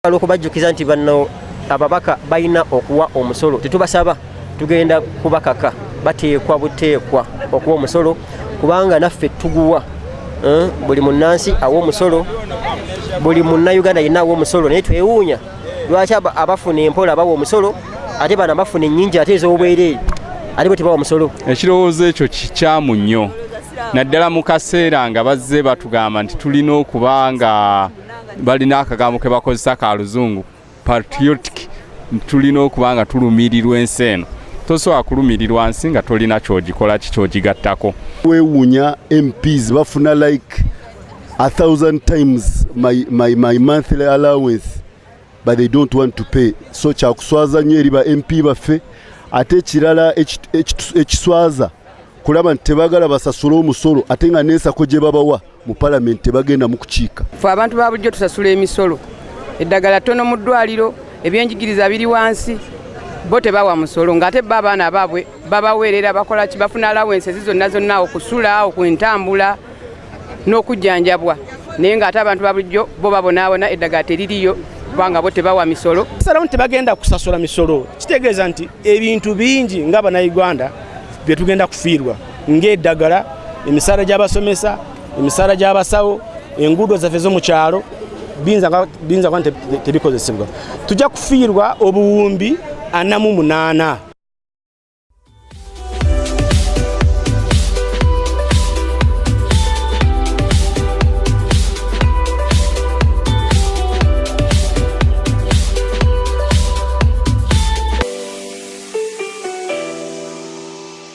olwokubajjukiza nti banno ababaka balina okuwa omusolo tetubasaba tugenda kubakaka bateekwa buteekwa okuwa omusolo kubanga naffe tuguwa eh, buli munnansi awa omusolo buli munnauganda yenna awa omusolo naye twewuunya lwaki abafuna empola bawa omusolo ate bana bafuna ennyingi ate ez'obwereere ate bwe tebawa omusolo ekirowoozo ekyo kikyamu nnyo naddala mu kaseera nga bazze batugamba nti tulina okuba nga balina akagambo ke bakozesa ka luzungu patriotic tulina okuba nga tulumirirwa ensi eno tosobola kulumirirwa nsi nga tolina kyogikola ki kyogigattako wewuunya mps bafuna like a thousand times my, my, my monthly allowance but they don't want to pay so kyakuswaza nnyo eri ba mp baffe ate ekirala ekiswaza kulaba nti tebagala basasule omusolo ate nga nensako gye babawa mu palamenti tebagenda mu kukiika fe abantu ba bulijjo tusasula emisolo eddagala ttono mu ddwaliro ebyenjigiriza biri wansi bo tebawa musolo ng'ate bo abaana baabwe babaweerera bakola ki bafuna alawensi ezi zonna zonna okusula okwentambula n'okujjanjabwa naye ng'ate abantu ba bulijjo bo babonaabona eddagala teririyo kubanga bo tebawa misolo salawo nti tebagenda kusasula misolo kitegeeza nti ebintu bingi nga bannayuganda bye tugenda kufiirwa ng'eddagala emisaala gy'abasomesa emisaala gy'abasawo enguudo zaffe zo mu kyalo biyinza kuba tebikozesebwa tujja kufiirwa obuwumbi ana mu munaana